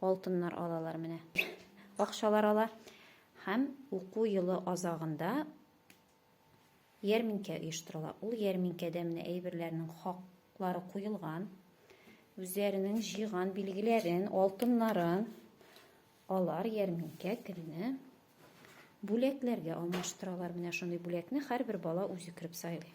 Алтыннар алалар менә. Акчалар ала һәм уку елы азагында ярминкә оештырыла. Ул ярминкәдә менә әйберләрнең хаклары куелган. Үзләренең җыйган билгеләрен, алтыннарын алар ярминкә көнне бүләкләргә алмаштыралар. Менә шундый бүләкне һәрбер бала үзе кереп сайлый.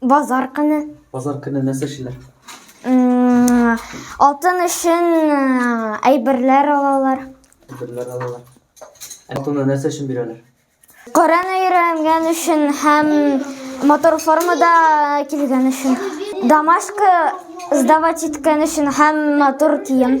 Базар көне. Базар көне нәрсә эшлиләр? Алтын өчен әйберләр алалар. Әйберләр алалар. Алтынны нәрсә өчен бирәләр? Коръән өйрәнгән өчен һәм мотор формада килгән өчен. Домашка сдавать иткән өчен һәм мотор кием.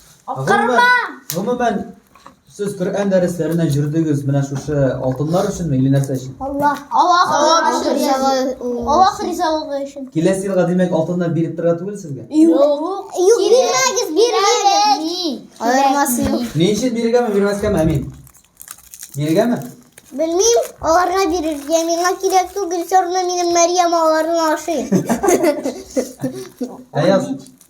Аптырма! Гомумән, сез Коръән дәресләренә җөрдегез менә шушы алтыннар өченме или нәрсә өчен? Аллах. Аллах, Аллах өчен. Аллах ризалыгы өчен. Киләсе елга димәк алтыннар биреп тора түгел сезгә? Юк. Юк, бирмәгез, бирмәгез. Аермасы юк. Ни өчен бирергәме, бирмәскәме, Әмин? Бирергәме? Белмим, аларга бирер. Я миңа кирәк түгел, сорны минем Мәрьям аларны ашый. Әяз.